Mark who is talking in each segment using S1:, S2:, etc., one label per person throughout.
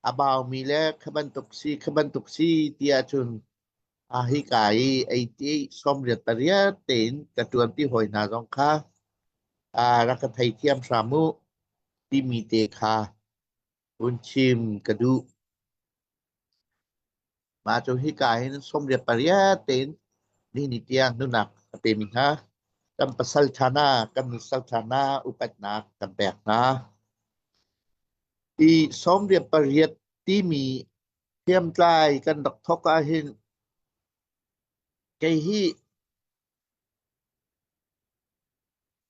S1: A baumi le kha bantuk si kha bantuk si ti ahcun a hika i ei ti sawmriat pariat tein ka ṭuanpi hawi hna zong kha aa rak ka theithiam hram u timi te kha Mah hika hin sawmriat pariat tein nihin tiang nunak a pemi hna kan pasal ṭha hna, kan nusal ṭha hna upatnak kan pek hna. Hi sawmriat pariat timi hriamtlai kan rak thawk ahhin kei hi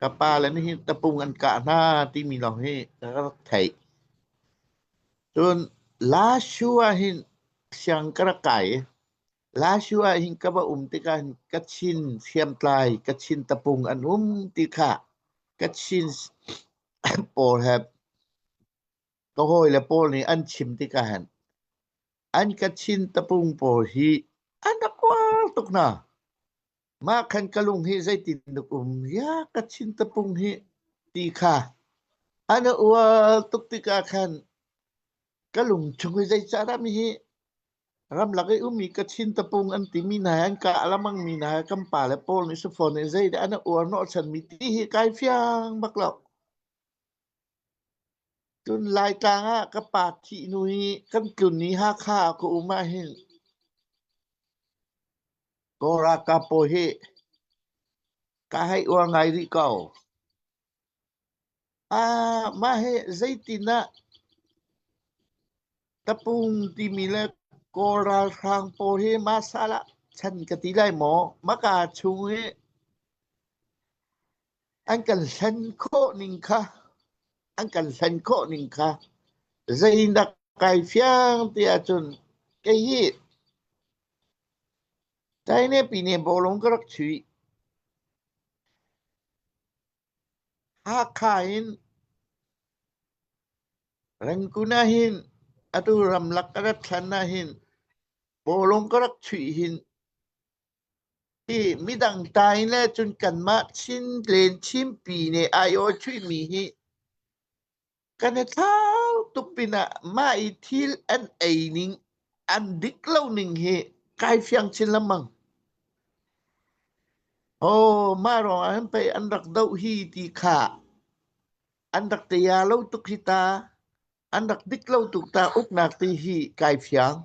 S1: Ka pa le nih hi tapung an kah hna timi lawng hi ka rak theih. Cun Lashu ahhin siang ka rak kai i Lashu ahhin ka va um tikah hin Kachin hriamtlai, Kachin tapung an um ti kha Kachin pawl he ka hawi le pawl nih an chim tikah hin an Kachin tapung pawl hi an rak kual tuk hna. mah khan ka lung hi zeitin tuk um ya ka chin tapung hi ti kha ana ual tuk tikah khan ka lung chung hi zei cara mi hi ramlak i umi ka chin tapung an ti mi hna an ka alamang mi hna kan pa le paul ni sufon ni zei de ana uar no chan mi ti hi kai fiang bak lo Cun Laitlang ah ka pa thihhnu i kan tlun i Hakha ah ka um ahhin Kaw-Rakapaw hi ka hei uar ngai rih ko. Ah mah hi zeitin ah tapung timi le Kaw ralhrang pawl hi mah sal ah chan ka ti lai maw? Mah kaa chung i an kan hlen khawh ning kha an kan hlen khawh ning kha zei nak kai fiang ti ahcun kei hi China pine bolong ka rak chui Hakha in Rangkun ahin atu ramlak ka rat thlan ahin bolong ka rak chui hin Hi midang tai le cun kanmah Chin len Chinpi nih ai awchuihmi hi kan i thlau tuk pinah mah i thil an ei ning, an dik lo ning hi kai fiang chin lengmang. Oh, mah ruangah hin pei an rak doh hi ti kha an rak tia lo tuk hi ta. An rak dik lo tuk ta. Uknak ti hi kai fiang.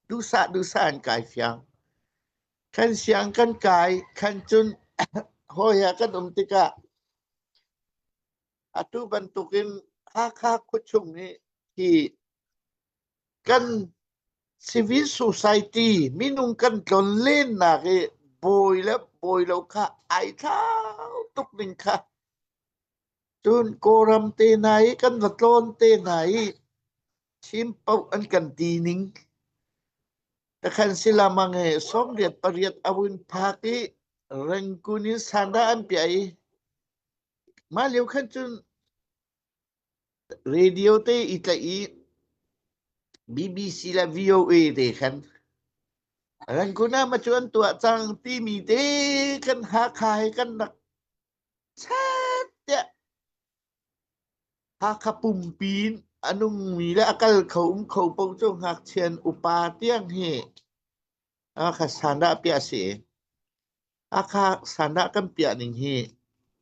S1: Duhsah duhsah in kai fiang. Kan siang kan kai, khan cun hawi ah kan um tikah atu bantukin Hakha khuachung nih hi kan civil society minung kan tlon lennak i bawi le bawi lo kha ai thlau tuk ning kha Cun Kawlram te hna i kan va tlawn te hna i thim paoh an kan ti ning. Takhan si lamang e sawmriat pariat a vun phak i rengkun in sanda an piah i mah lio khan cun radio te i tlaih i BBC le VOA te khan rengkun ah ma cu an tuah cang timi te kan Hakha he kan rak Chat tiah Hakha pumpi in a nungmi le a kal kho um kho paoh cu ngakchian upa tiang hi Hakha sandah piah si. Hakha sandah kan piah ning hi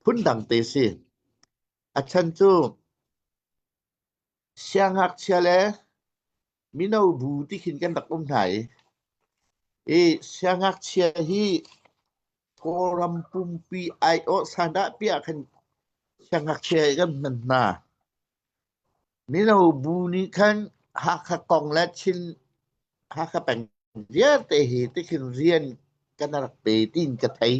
S1: phun dang te si. A chan cu Siangngakchia le mino bu tikhin kan rak um hna i, i siangngakchia hi Kawlram pumpi aiawh sandah piah khan siangngakchia i kan hman hna. Mino bu nih khan Hakha kong le Chin Hakha peng vialte hi tikhin rian kan rak pe tiin ka thei.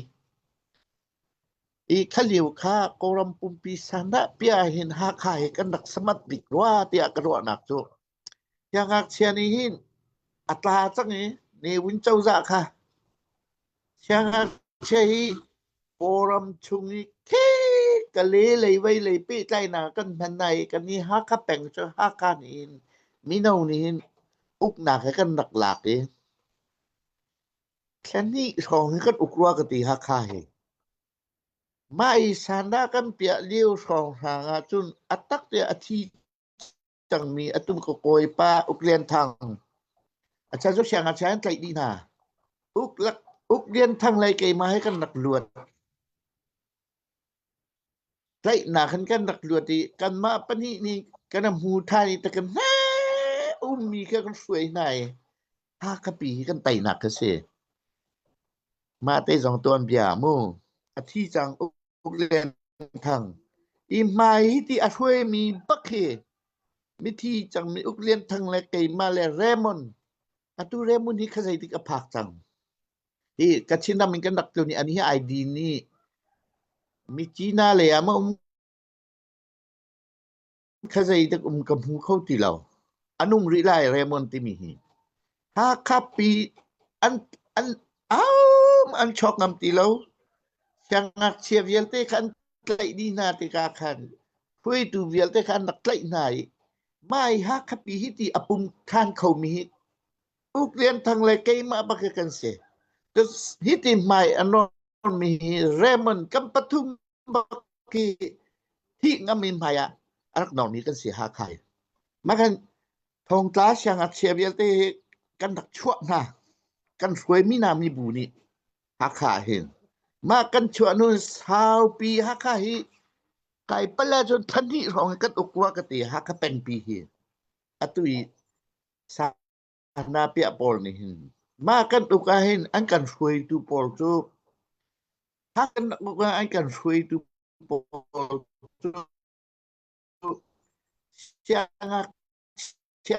S1: I khalio kha Kawlram pumpi sanah pia hin Hakha hi kan rak samat bik rua tiah ka ruahnak cu. Hi ngakchia nih hin a tla cang i Newin cozah kha siangakchia hi Kawlram chung i khek ka le lei vei lei pehtlainak kan hman hna i kan i Hakha peng cu Hakha nih hin mino nih hin uknak he kan rak lak i Thlahnih hrawng hi kan uk rua ka ti Hakha hi. Mah i sandah kan piah lio hrawng hrang ahcun a tak tiah a thi cangmi a tum ka kawi pa Uk Lian Thang. A chan cu siang a chia in tlaih dih hna. Uk, lak, Uk Lian Thang lei keimah he kan rak luat. Tlaihnak in kan rak luat i kanmah pahnih nih kan a hmu ṭhan i ta kan hnee ummi kha kan hruai hna i Hakhapi hi kan teinak kha si. Mah te zong tuan bia a mu. A thi cang Uk Uk Lian Thang. Hi hmai hi ti a hruaimi bak hi mithi cangmi Uk Lian Thang le keimah le Raymond atu Remun hi kha zeitik a phak cang hi Kachin ram in kan rak tlun i ani hi ID nih mi China lei ah ma um kha zeitik um ka hmu kho ti lo anung rih lai Raymond timi hi Hakha pi an an am an chok ngam ti lo siangak chia vialte kha an tlaih dih hna tika khan hui tu vialte kha an rak tlaih hna i Mai Hakha pi hi ti a pum than kho mi hi Uk Lian Thang le keimah bak kan si. Hi ti hmai a nawn mi hi Raymond kan pathum bak hi thi ngam mi hmai ah a rak nawn mi kan si Hakha. Ma kan thongtla siang a chia vialte hi kan rak chuah hna kan hruai mi na mi bu nih Hakha hin ma kan chuah nu saupi Hakha hi Kai pale cun thahnih hrawng hi kan uk rua ka ti. Hakha pengpi hi atu i sana piah pawl nih hin mah kan uk ah hin an kan hruaitu pawl cu ha kan uk ah an kan hruaitu pawl cu siangakchia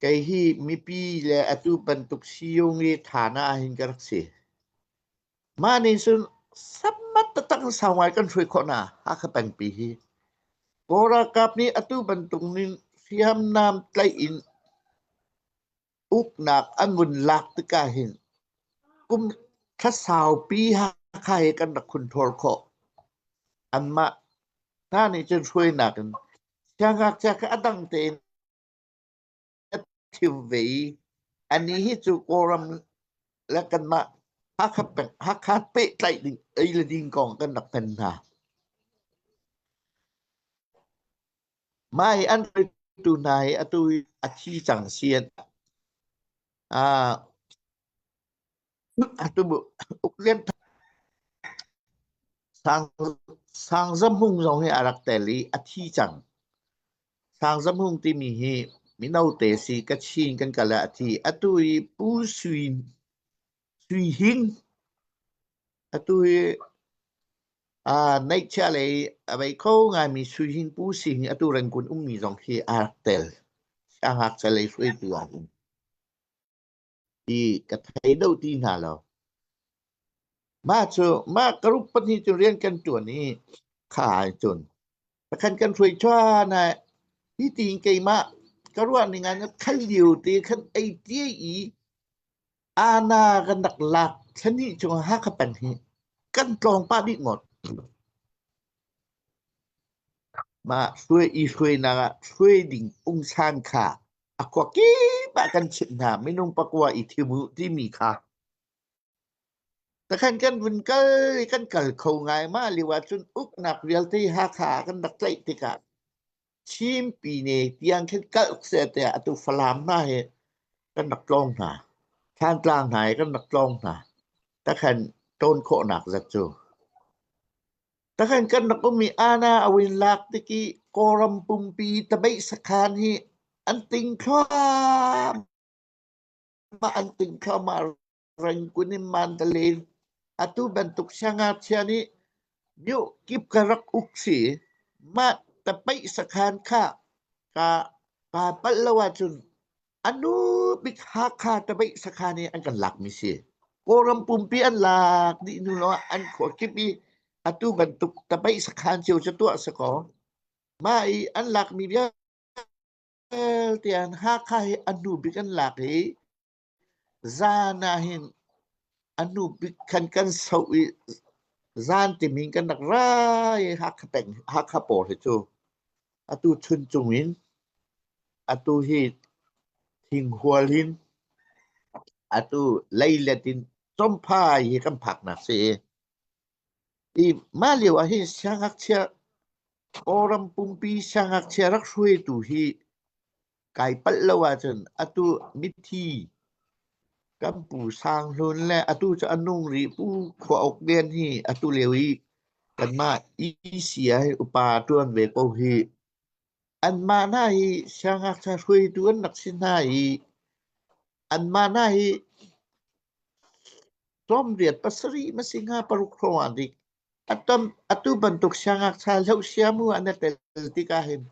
S1: Kei hi mipi le atu bantuk siung i tthan ahhin ka rak si. Mah nih cun sammat taktak in sau ngai kan hruai khawh hna Hakha pengpi hi. Kawl ralkap nih atu bantuk in hriamnam tlaih in uknak a ngun lak tikah hin kum thla saupi Hakha he kan rak hun ṭhawl khawh. Anmah hna nih cun hruainak in siangngakchia kha a dang tein a ṭhiu ve i a ni hi cu Kawlram le kanmah Hakha, peng- Hakha pehtlaih ding, ei le ding kong kan rak hman hna. Mah hi an hruaitu hna hi atu a thi cang si an ah atu uk lian Sang Sang Zam Hung zong hi a rak tel i a thi cang. Sang Zam Hung timi hi mino te si Kachin kan kal ah a thi. Atu i Pu Sui Sui Hin atu hi uh, neihchia lei a vei kho ngaimi Sui Hin Pu si hi atu Rangoon ummi zong khi aa rak tel. A hak ca lei hruaitu ah um. Ti ka thei do ti hna lo. Mah cu mah ka ruk pahnih cu rian kan tuan i khai cun. Takhan kan hruai chua na hi ti keimah ka ruah ning an khat liu te khan ei tie i Ana kan rak lak thlenhnih chung ah Hakha peng hi kan tlawng pah dih ngawt. Mah hruai i hruainak ah hruai ding ungsan kha a khua kip ah kan chimh hna minung pakua i thim u timi kha. Takhan kan vun kal i kan kal kho ngai ma liu ahcun uknak vialte Hakha kan rak tlaih tikah Chinpi ne tiang khin kalh seh tiah atu Falam hna hi kan rak tlawng hna. Thantlang hna hi kan rak tlawng hna. Takhan tawn khawhnak zat cu. Takhan kan rak um i Ana awin lak tiki Kawram pumpi tabeih sakhan hi an ting thluah ma an ting thluah ma Rengkun in mandalin. Atu bantuk siangngakchia nih miuh kip ka rak uk si. Mah tapaih sakhan khah ka kaa palh lo ahcun anu bik Hakha tapaih sakhan i an kan lakmi si. Kawlram pumpi an lak dih hnu lawng an khuakip i atu bantuk tapaih sakhan cio cu tuah sakaw. Mah i an lakmi vialte an Hakha hi anu bik an lak i Zaan ah hin a hnu bik khan kan soh i zaan timi in kan rak ra i Hakha peng Hakha pawr hi cu atu chun cung in atu hi thinghual hin atu leilet in chawmpha hi kan phaknak si i i mah lio ah hi siangngakchia Kawlram pumpi siangngakchia rak hruaitu hi Kai palh lo ahcun atu mithi kan pu Sang Hlun le atu cu a nung rih pu khua uk vian hi atu lio i kanmah ECA hi upa ṭuan ve ko hi. Anmah hna hi siangngakchia hruaitu an rak si hna i anmah hna hi tlawmriat pasarih masing ha paruk hrawng ah dik Atu bantuk siangngakchia hlohsiam u an i tel tikah hin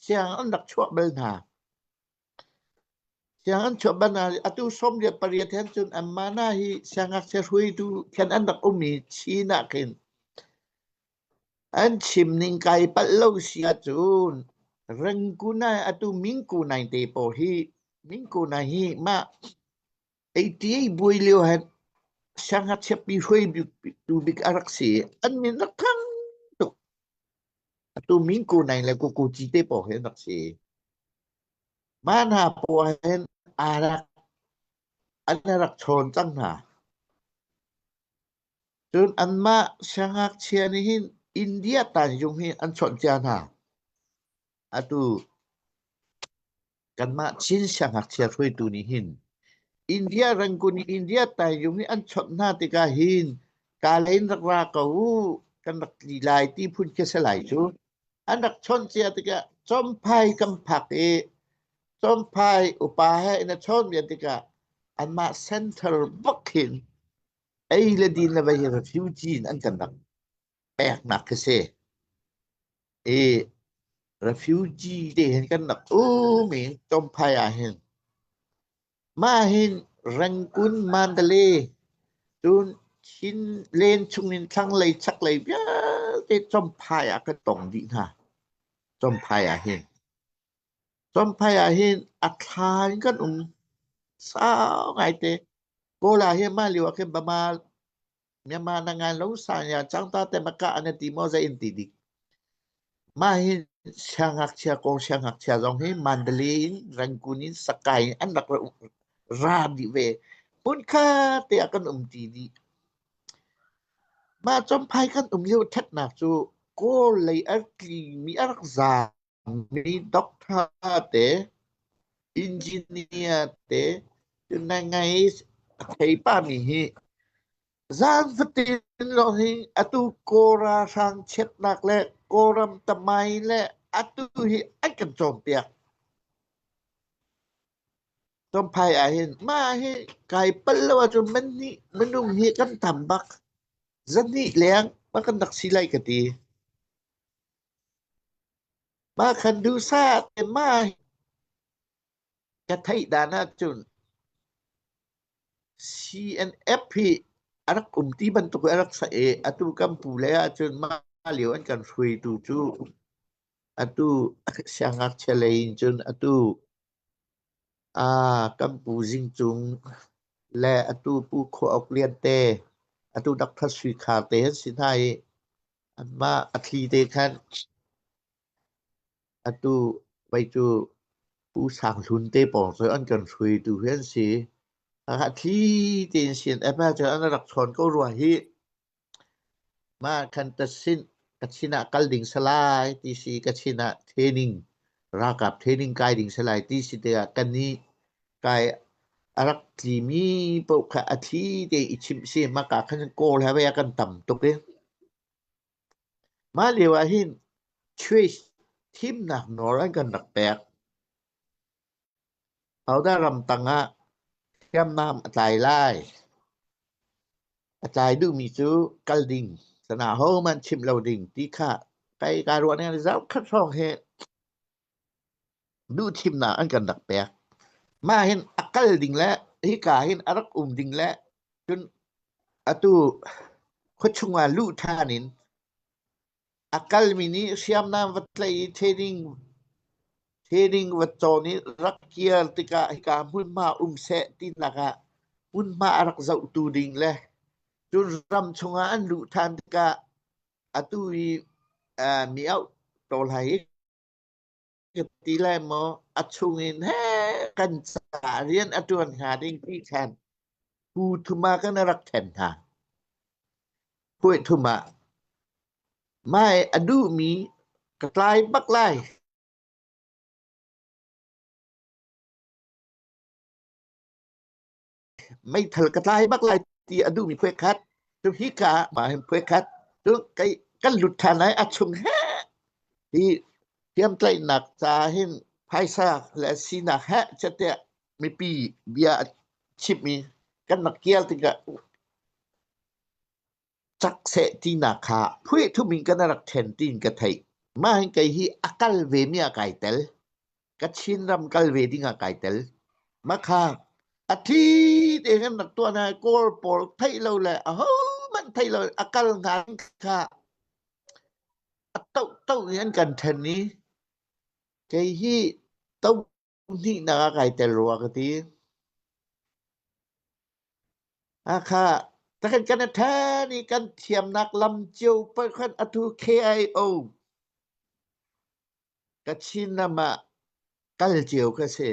S1: sianginn an rak chuah bal hna. Sianginn chuah bal hna. Atu sawmriat pariat hen cun an mana hi siangngakchia hruaitu khen an rak um i Chin ah khin an chim ning kai palh lo si ahcun Rengkunai atu Mingkunai te pawl hi Mingkunai hi mah 88 buai lio hen siangngakchiapi hruaitu bik a rak si i an min rak thang tuk. Atu Minku Naing le Kuku Ci te paoh hi an rak si. Mah hna poah hen aa rak an rak chawn cang hna. Cun anmah siangngakchia nih hin India tanzung hi an chawnh cia hna. Atu kanmah Chin siangngakchia hruaitu nih hin India Rangoon i India Tanjung nih an chawnh hna tikah hin Kalain rak ra ko uh kan rak tli lai ti phun khi a si lai cu. An rak chawnh cia tikah Chomphai kan phak i Chomphai upa he in a chawn ve tikah anmah center bak hin ei le din le vei refugee in an kan rak peknak khi si. I refugee te hin kan rak um in Chomphai ah hin mah hin Rangoon Mandalay cun Chin len chung in thlanglei chaklei vialte Chomphai ah kan tong dih hna. Chomphai ah hin. Chomphai ah hin a thla in kan um sau ngai te. Kawl ah hin mah lio ah khin bama Myanmar na ngan lo sanya changta te maka ane ti mo zai in ti dik. Ma hi siangakchia kong siangakchia zong hi Mandalay in Rangoon in Sakai in an rak ra di ve. Mun kha te a kan um ti di. Ma chomphai kan um lio ṭhatnak cu Kawl lei a tli mi a rak za Mi doctor te, engineer te na ngei a thei pa mi hi zaan fatin lawng hi atu Kawra hrang chiatnak le Kawram tamai le atu hi an kan cawnpiak. Tompai ahhin mah hi kai pal lo ahcun man nih minung hi kan tam bak. Zahnih leng ma kan rak si lai ka ti. Mah khan duhsah te mah ka theih dan ahcun CNF hi a rak um ti bantuk a rak sa i atu kan pu lei ahcun mah lio an kan hruaitu cu atu siangngakchia lei in cun atu A kan pu Zing Cung le atu Pu Khua Uk Lian te, atu Doctor Sui Khar te an si hna i anmah a thli te khan atu vei cu Pu Sang Hlun te pawng cu an kan hruaitu hi an si. Hakha thli tein sin ep ahcun an rak ṭhawn ko rua hih. Mah khan ka sin ah kal ding salai ti si ka sin ah training ralkap training kai ding salai ti si tikah ka nih kai a rak tli mi paoh kha a thli te i chimh si maka khan kawl he vei a kan tam tuk i mah lio ah hin church thimnak nawl an kan rak pek Pauda ram tang ah hriamnam a tlai lai. A tlai duhmi cu kal ding, sana hohmanh chimh lo ding ti kha kai kaa ruah ning ah zaukhat hrawng hi duhthimnak an kan rak pek. Mah hin a kal ding le hika hin a rak um ding le cun atu khuachung ah luh ṭhan in A kalmi nih hriamnam va tlaih i theding va cawn i rak kir tikah hika hmunhma um seh tinak ah hmunhma a rak zohtu ding le cun ram chungah an luh ṭhan tikah atu i mi auh ko lai i. Ka ti lai maw, a chung in he kan ca rian a ṭuan hnga ding ti khan pu thum ah kan rak ṭhen hna. Puai thum ah mai a duhmi ka tlai bak lai. meithal ka tlai bak lai ti a duhmi phuai khat cu hi ka ma hin phuai khat cu kai kan lut ṭhan lai a chung he hi thiamtlaihnak ca hin phaisa le sinak he chate mipi bia a chimmi kan mak kial tikah cak seh tinak kha phuihthup in kan rak ṭhen tiin ka theih. Mah hin kei hi a kal vemi ah kai tel. Kachin ram kal ve ding ah kai tel. Mah kha a thi te kan rak tuah hna kawl pawl theih lo le a ho hmanh theih lo a kal hna kha a to to in an kan ṭhen i kei hi to Pahnihnak ah kai tel rua ka ti. Hakha, takhan kan a ṭha ni kan thiamnak lam cio pakhat atu KIO Kachinam ah kal cio ka si.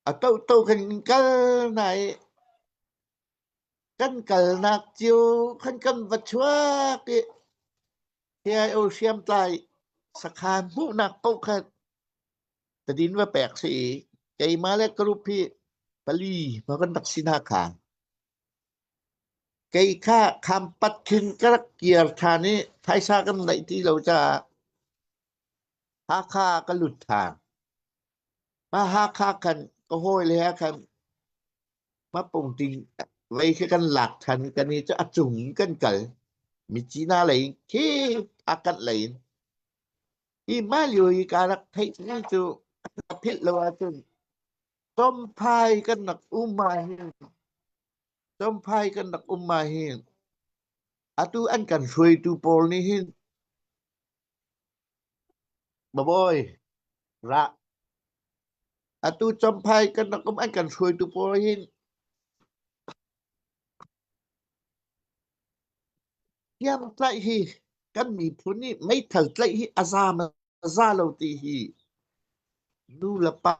S1: A tohto kan in kal na i Kan kalnak cio kan kan va chuak i KIO hriamtlai sakhaan hmuhnak paohkhat tadin va pek si i keimah le group hi pali ma kan rak si hna kha. Kei kha khampat khin ka rak kir ṭhan i phaisa kan neih ti lo caah Hakha ka lut ṭhan. Haha khan ka hawile he khan hmapung ti lei khi kan lak than kan i cu a cung in kan kal mi cina lei in khi a kanh lei in hi mah lio i ka rak theih mi cu ka philh lo ahcun Chawmphai kan rak um ahhin Chawmphai kan rak um ahhin atu an kan hruaitu pawl nih hin Bawi, ra. Atu Champhai kan rak um an kan hruaitu pawl hin hniamtlaih hi kan miphun nih meithal tlaih hi a zaam a za lo ti hi nu le pa,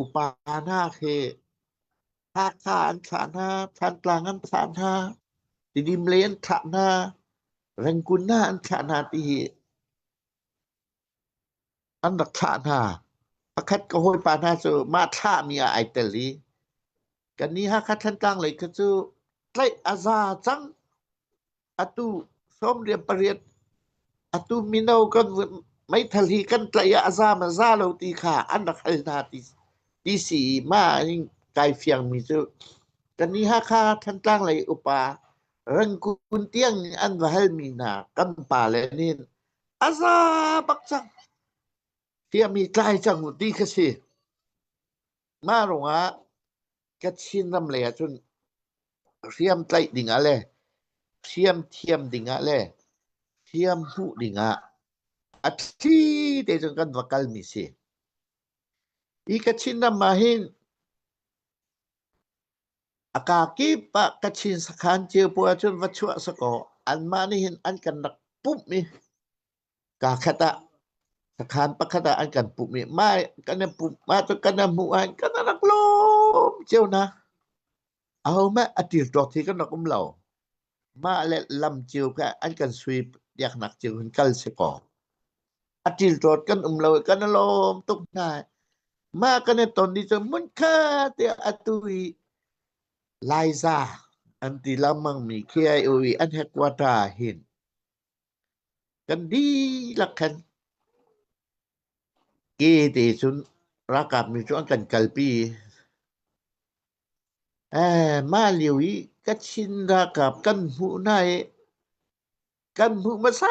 S1: upa hna he Hakha an thlah hna, Thantlang an thlah hna, Tidim lei an thlah hna, Rengkunna an thlah hna ti hi an rak thlah hna. Pakhat ka hawipa hna cu mah thlahmi ah ai tel i kannih Hakha Thantlang lei kha cu tlaih a za cang. atu sawmriat pariat atu mino kan meithal hi kan tlaih ah a zaam a za lo ti kha an rak hal hna ti ti si ma in kai fiang mi cu kan ni Hakha Thantlang lei upa rangkun tiang an va hal mi hna kan pa le nin a za bak cang fia mi tlai cang ti ka si Mah ruangah Kachin ram lei ah cun hriam tlaih ding ah le hriam thiam ding ah le hriam hmuh ding ah a thli te cun kan va kal mi si. Hi Kachin ram ah hin a ka kip ah Kachin sakhan cio puai cun va chuah sakaw anmah nih hin an kan rak pumh i Kaa khat ah, sakhan pakhat ah an kan pumh i mah kan an pumh, mah cu kan an hmuh ahhin kan rak lawm cio na. Ahohmanh a ṭilṭuak thi kan rak um lo. Mah le lam cio kha an kan sui piaknak cio hin kal si kaw, a ṭilṭuat kan um lo i kan i lawm tuk hna. Mah kan i ton ni cu hmun kha tiah atu i Laiza an ti lengmangmi khi ai u i an headquarter ah hin Kan dihlak khan ke te cun ralkap nih cun an kan kalpi. Eh, mah lio i Kachin ralkap kan hmuh hna i kan hmuh hmasa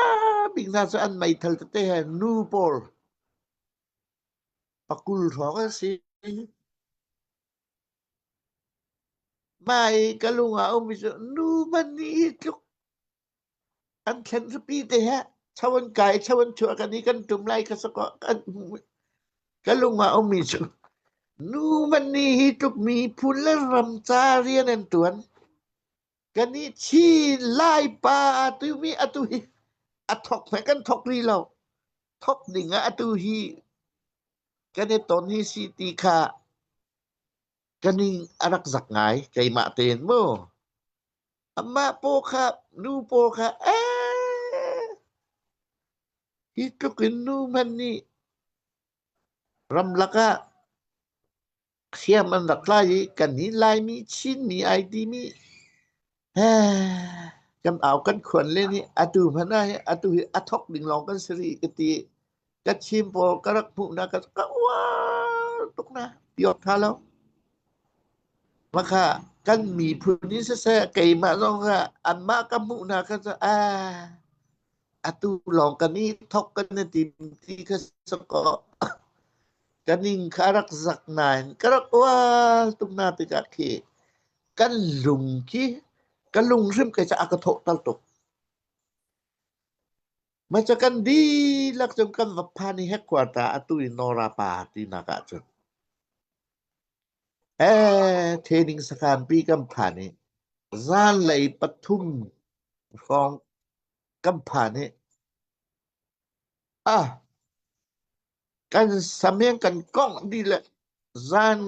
S1: bik hna cu an meithal tete he nu pawl pakul hrawng an si. Mah i ka lung ah a ummi cu nu man nih hi tluk an thlen zapi te he cho an kai cho an chuah kan i kan tum lai ka sako kan ka lung a ummi cu nu man ni hi tuk mi phun le ram ca rian an tuan kan i chi lai pa tu mi atu hi a thok me kan thok ri lo thok ning a atu hi kan i ton hi si ti kha Ka ning a rak zak ngai, keimah tein mu. Amah paw kha, nu paw kha, ee! Hi tluk in nu hmanh nih ramlak ah hriam an rak tlai i kan hi Laimi, Chinmi ai timi kan au kan khuan le nih atu hmanh ah hi atu hi a thok ding lawng kan si rih ka ti ka chim pawl ka rak hmuh na ka ka uar tuk na piot tha lo maka kan miphun ni siseh keimah zong kha anmah ka hmuh na ka sa a atu lawng kan i thok kan na tim ti ka sa ko kan in ka rak zak nain ka rak uar tuk na tikah khi kan lung khi ka lung hrim ke ca a ka thawhter tuk ma ca kan dihlak cun kan va phan i headquarter atu i nora pa ti nak ah cun eh training sakhan pi kan phan i zan lei pathum hrawng kan phan i ah kan sameng kan kongh di le zan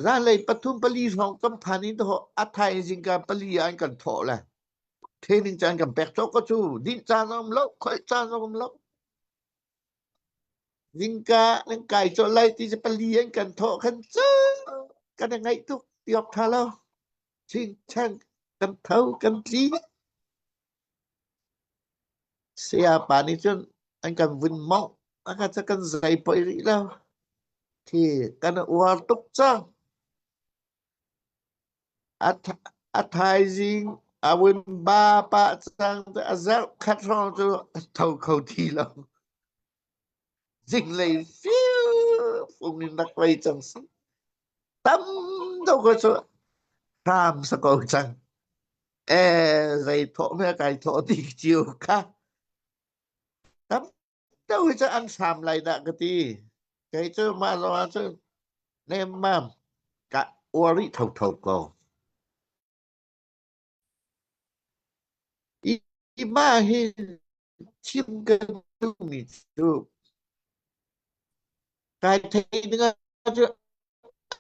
S1: Zanlei pathum pali hrawng kan phan in dawh a thaizing ka pali ah an kan thawh le training caan kan pek cawk ko cu dinh caan a um lo khoih caan a um lo zingka nan kai cawlh lai ti se pali an kan thawh khan cu kan i ngaih tuk tiawk tha lo ching chang kan tho kan tli Sayapa nih cun an kan vun mongh. A ka cu kan zei poi rih lo. Thi kan uar tuk cang. A, a thaizing a vun ba pah cang. A zerh khat hrawng cu a tho kho ti lo. zinglei firfung in rak lei cang si tam deuh ko cu hram sa ko cang e zei thawh me kai thawh ti chiu kha tam deuh cu an hram lai da ka ti kei cu ma lo cu nem mam ka uari tho tho ko Hi mah hi thil kan duhmi cu kai thei dingah cu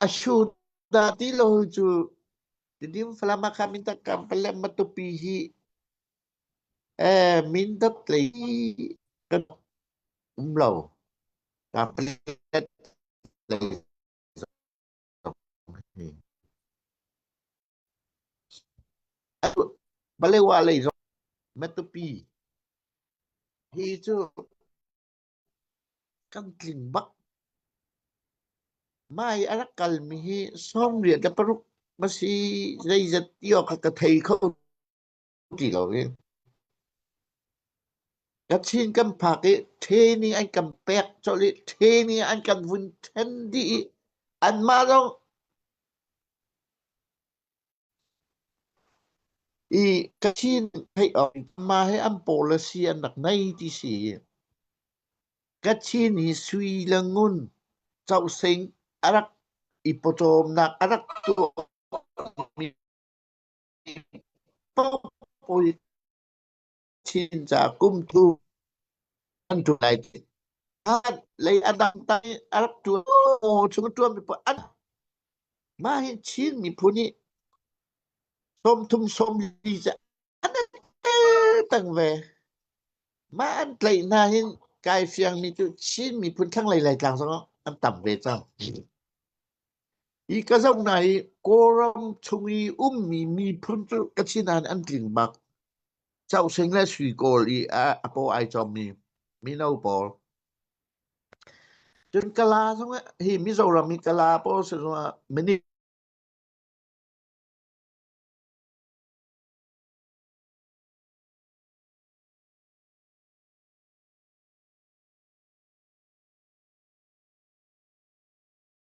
S1: a shu da ti lo cu tidim falam akha min tak kam palem matupi hi eh min dap tlei kan um lo ka palet Malay lei zong Matupi hi cu kan tling bak mai a rak kal mi hi sawm riat le paruk na si zeizat ti awk kha ka thei kho ti lo i Kachin kan phak i ṭhe nih an kan pek colh i ṭhe nih an kan vun ṭhen dih i anmah zong i Kachin theih awk in mah hi an pawl a si an rak nei ti si. Kachin hi Sui le Ngun Causing a rak i pawcawmnak a rak tuahmi Topui Chinca kum thu an thu lai ti. An lei adang tang i Arab tua chung tua mi pa an mah hi Chin miphun hi som thum som li cha an tang ve. Mah an tlai hna hin kai fiang mi cu Chin miphun thlanglei lai tlang zong an tam ve cang. Hi ka zoh hna i Kawlram chung i ummi miphun cu ka sin ah an tling bak. Choh Sing le Sui Kawl i a, a paw ai cawmmi mino pawl. Cun Kala zong ah, hi Mizoram i Kala pawl si zong ah minit